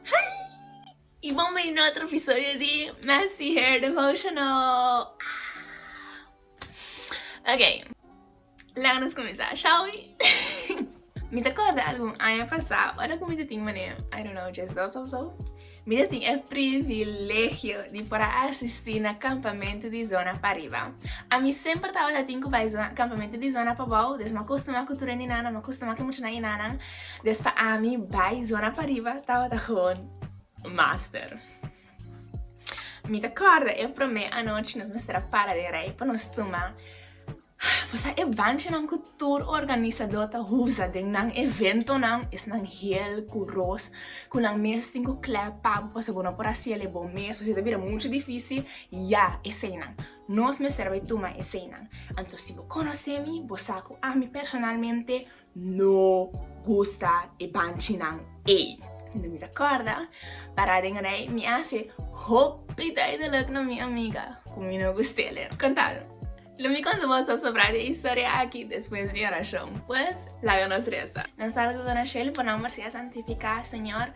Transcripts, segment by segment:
Hi! I bon bay na otro episodio di Messy Hair Devotional! Ok, laga nos cuminsa, shall we? Mi ta corda algun aña pasa, ora cu mi ta tin manera, I don't know, just dos of so, mi ta tin e privilegio di por a asisti na campamento di zona pa riba. A mi semper tabata tin cu bay zona, campamento di zona pa bao, des m'acostuma cu tur e ninana, m'acostuma cu e muchanan y e nananan, Des pa ami bai zona pariba tabata gewoon master. Mi ta corda e prome anochi nos mester a para den rij pa nos tuma. Vos sa e banchonan cu tur organisador ta usa den nan eventonan esnan heel curos cu nan mes tin cu clep pabo pasobra bo no por haciel ebo mes pasobra e ta bira mucho dificil, ya eseinan. Nos mester a bai tuma eseinan. Anto si bo conoce mi bo sa cu ami personalmente. No gusta e banchinan ey. Enton mi ta corda, para den rij, mi a haci hopi duidelijk na mi amiga cu mi no gust'ele. Contalo. Lo mi con bo so sobra di e historia aki despues di oracion. Pues, laga nos reza. Nan sa lo cu dona Shirley por nomber si a santifica, Señor,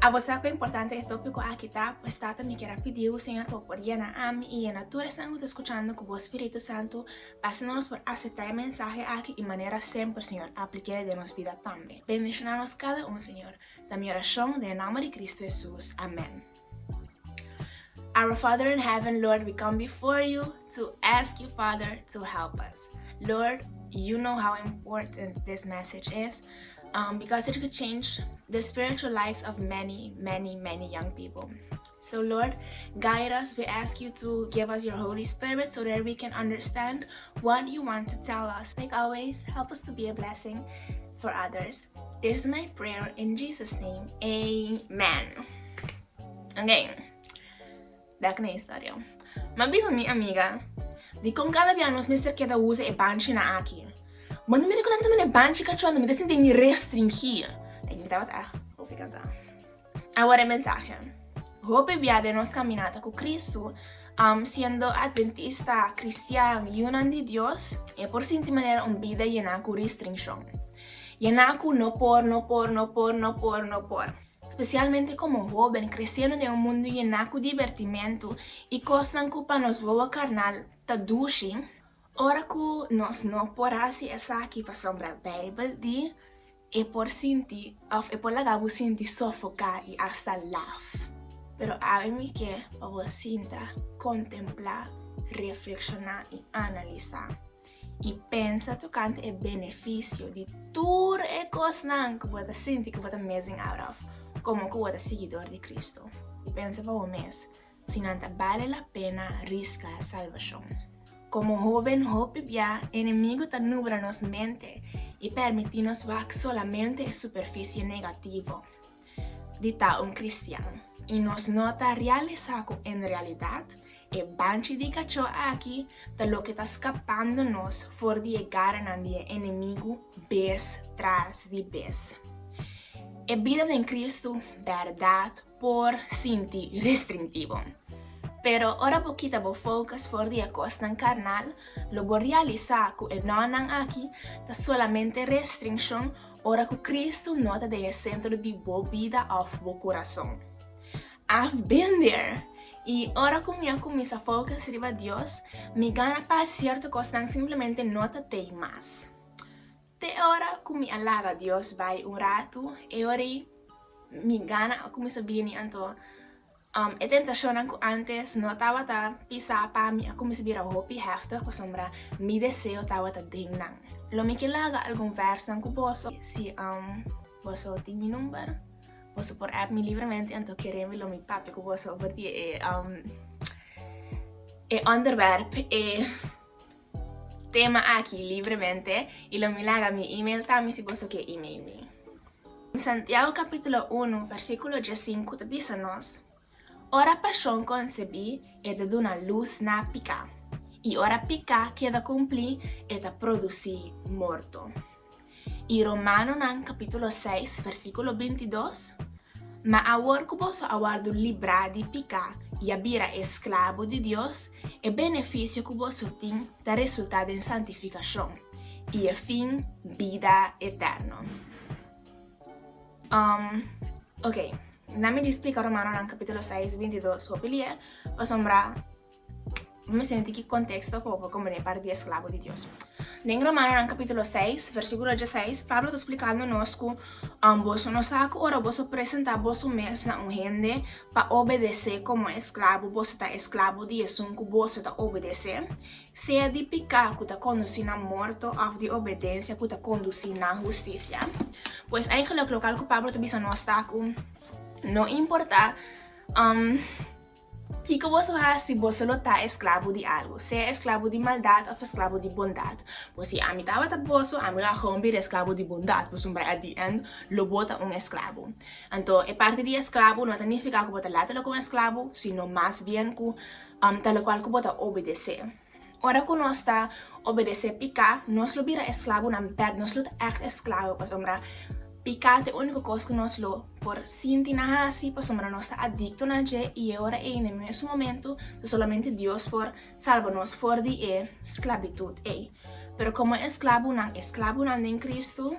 abo sa cu importante e topico aki ta, pues tata mi kier a pidi bo Señor pa bo por yena ami y yena tur esnan cu ta escuchando cu bo Spiritu Santo, Asina nos por aseptá e mensahe aki i manera semper, Señor, aplik'é den nos bida tambe. Bendishoná nos kada un, Señor, ta mi orashon den e nomber di Cristo Hesus. Amèn. Our Father in Heaven, Lord, we come before you to ask you, Father, to help us. Lord, you know how important this message is, um, because it could change the spiritual lives of many, many, many young people. So Lord, guide us, we ask you to give us your Holy Spirit so that we can understand what you want to tell us. Like always, help us to be a blessing for others. This is my prayer in Jesus name, amen. Ok, back na historia. Ma bisa mi amiga, di kon kada bia nos mester keda usa e banchi na aki. Ma no mi reconecta mi na e banchi cachua, no mi ta sinti mi restringi. Like mi tabata, hopi cansa. Awor e mensahe. Hopi bia den nos kaminata ku Kristu, siendo adventista, kristian, yunan di Dios, e por sinti manera un bida yená ku restrinshon. Yená ku no por, no por, no por, no por, no por. Spesialmente komo hóben kresendo den un mundu yená ku dibertimentu i kosnan ku pa nos wowo karnal ta dushi. Ora ku nos no por hasi esaki pasobra Beibel di, E por sinti òf e por laga bo sinti sofoká i asta laf. Pero awe mi ke pa bo sinta, kontemplá, reflekshoná i analisá. I pensa tokante e benefisio di tur e kosnan ku bo ta sinti ku bo ta missing out of, komo ku bo ta siguidor di Kristu. I pensa pa bo mes, Si nan ta bale la pena riska salbashon. Komo hóben hopi biá enemigu ta nubla nos mente i pèrmití nos wak solamente e superfisie negativo di ta un kristian i nos no ta realisá ku en realidat e banchi di kachó aki ta loke ta skapando nos for di e garanan di e enemigu bes tras di bes. E bida den Kristu, bèrdat, por sinti restrintivo. Pero ora bo kita bo focus for di e cosnan carnal, lo bo realisa cu e nonan aki ta solamente restrincion ora cu Cristo no ta den e centro di bo bida of bo curason. I've been there! Y ora cu mi a cuminsa focus riba Dios, mi gana pa cierto cosnan simplemente no ta t'ey mas. Te e ora ku mi a laga Dios bai un ratu, e or'i mi gana a kuminsá bini. Anto, e tentashonnan ku ántes no tabata pisá pa mi a kuminsá bira hopi hèftig pasobra mi deseo tabata den nan. Lo mi ke laga algun vèrsnan ku boso. Si boso tin mi number, boso por app mi libremente, anto kere'mbe lo mi papia ku boso over di e ònderwèrp, e. tema aki libremente y lo mi laga mi email tambe si boso ke email mi. Santiago capítulo unu versículo djèsinku ta bisa nos, Ora pashon konsebí e ta duna lus na piká, i ora piká keda kumplí e ta produsí morto. I Romanonan capítulo seis versículo bintidos, Ma awor cu boso a wordu librá di picá i a bira esclabo di Dios, e beneficio cu boso tin ta resultá den santificacion, i e fin bida eterno. Um, ok, na mi di splica Romanonan capítulo seis bintidos hopi lier, pasobra. Bo mi sinti ki konteksto ku bo kombon'é parti di esklabo di Dios. Den Romanonan kapítulo seis, versíkulo diaseis, Pablo ta splikando nos ku boso no sa ku ora boso presentá boso mes na un hende pa obedesé komo esklabo, boso ta esklabo di esun ku boso ta obedesé, sea di piká ku ta kondusí na morto òf di obedensia ku ta kondusí na hustisia. Pues eigelik loke al ku Pablo ta bisa nos ta ku no importá. Kiko bo su hasi? Bo sa lo ta esklabo di algu, sea esklabo di maldat òf esklabo di bondat. Bo si ami tabata boso, ami lo a hòmber di esklabo di bondat, pasobra at di ènd lo bo ta un esklabo. Anto e parti di esklabo no ta nifiká ku bo ta later lo ku un esklabo, sino mas bien ku ta lokual ku bo ta obedesé. Ora ku nos ta obedesé piká, nos lo bira esklabunan bèk, nos lo ta ègt esklabo, pasobra piká ta e úniko kos ku nos lo por sinti na hasi, pasobra nos ta adikto na dje i e ora ei, na e mesun momentu, ta solamente Dios por salba nos for di e sklabitut ei. Pero komo esklabunan, esklabunan den Kristu.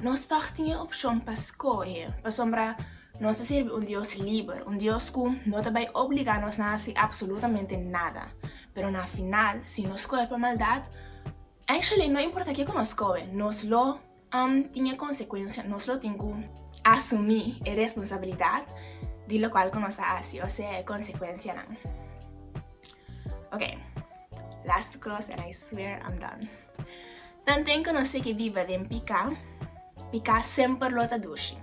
Nos tòg tin e opshon pa skohe, pasobra nos ta sirbi un Dios liber, un Dios ku no ta bai obligá nos na hasi apsolutamente nada. Pero na final, si nos skohe pa maldat, actually no importa ke ku nos skohe, nos lo tin e konsekuensia, nos lo tin ku asumí e responsabilidat di lokual ku nos a hasi, osea e konsekuensianan. Oke, last kos and I swear I'm done. Tanten ku nos sigui biba den piká, piká semper lo ta dushi.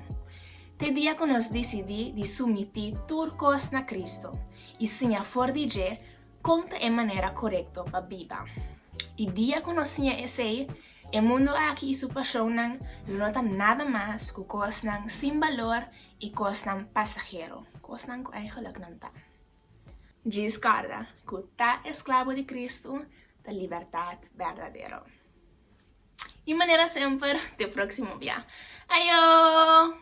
Te dia ku nos disidí di sumití tur kos na Kristu i siña for di dje kon ta e manera korekto pa biba. E dia ku nos siña esei, e mundu aki i su pashonnan lo no ta nada mas ku kosnan sin balor i kosnan pasahero, kosnan ku eigelijk nan ta. Djis kòrda ku ta esklabo di Kristu ta libertat berdadero. I manera semper, te próksimo bia. Ayo!